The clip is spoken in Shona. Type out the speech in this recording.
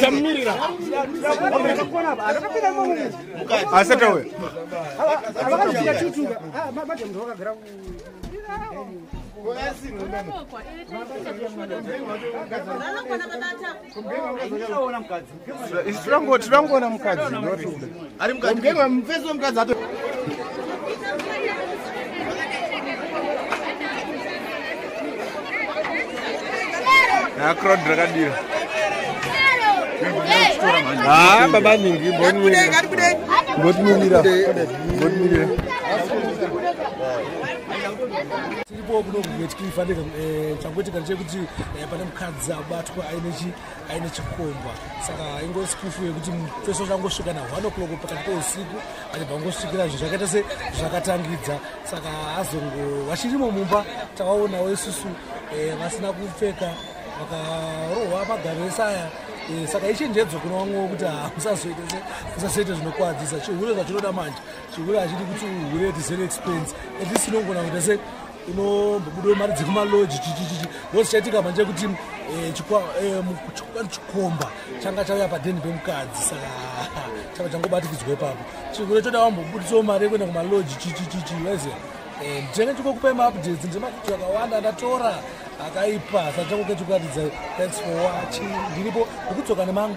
tamirira asati auya tirangoona mukadzi ari mukadzi mukadzi crowd rakadira ha baba nyingi mbotimirira mbotimirira tiripo kuno kuvetkifanira eh, changoitika ndechekuti eh, pane mukadzi abatwa aine chi aine chikomba saka ingori sikufu yekuti feso changosvika na one o'clock pakati peusiku achibva ngosvikira zvinhu zvakaita se zvakatangidza saka azongo vachirimo mumba takaonawo isusu eh, vasina kupfeka vakarohwa magaro ese aya eh, saka ichenjedzo kuna vamwewo kuti hamusazoite zvinokwadzisa chihure zvachinoda manje chihure hachidi kuti uhure at zero expense at least inongona kuita se inombobudawo mari dzekumaloji chichichichi ndosichaitika manje kuti eh, eh, chikwani chikomba changa chauya padeni pemukadzi saka changa changobatikidzwa ipapo chikure choda wambobudisawo mari yekuenda kumaloji chichichichi waiziva eh, nditenge chikokupai maupdates ndemakuti akawanda ndatora akaipa sachangoke chikuratidza thanks for watching ndiripo ndikudzoka nemangu